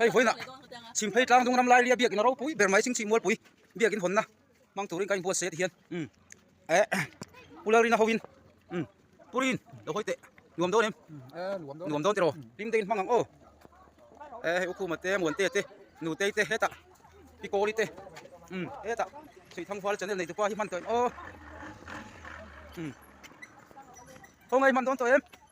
hei huaina chhim phei tlang dawng ram laia biak ina ropui ber mai ching chhih mualpui biakin hawnna hmang turin ka inbuatsaih ati hian um eh pula rina hoin um purin lo hawi teh nuam dawn em nuam dawn tiraw hlim deuhin hmang ang aw eh hei ukhuma te muante te nutei te heta pikawri te um heta chhih thanghual channel nei tupa hi hman tawh em aw um khawngaih hman dawn tawh em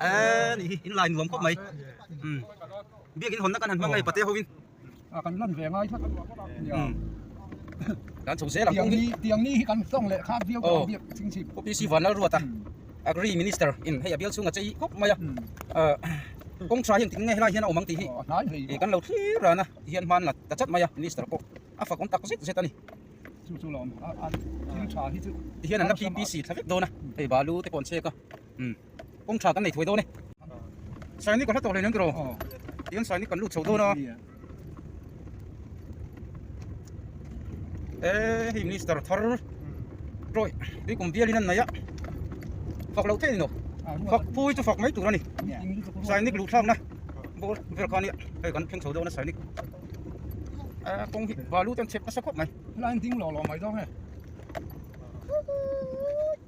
ê ni hi in line nuam khawp mai um biakin hawnna kan han hmang a ni pate ho in a kan lan ve ngai tlat um kan chho zel ang kawng hi tiang ni hi kan sawng leh khak viau tawh ang biak ching chhip OPC vanlal ruat a agri minister in hei a bial chhung a chei khawp mai a kawngchha hi engtin nge helai hian a awm ang tih hi e kan lo thlir ran a ti hian hman la ta chat mai a minister pawh a fak awm tak zet zet a ni chu chu lo awm a thil tha hi chu ti hian an la ppc thla vek dawn a hei balu te pawh an chhek a um kawng tha kan nei thuai dawn e sainik ka hla tawh hlei nang tiraw tiang sainik kan lut chho dawn a e hei minister thar tawih tui kum bialin an nei a fak lo theih ni loh fak pui chu fak mai tur a ni sainik luh thlakna ball vel kha ania hei kan thleng chho dawn a sainik a kawng hi balu te an chep nasa khawp mai helai an ding lawh lawh mai dawn e.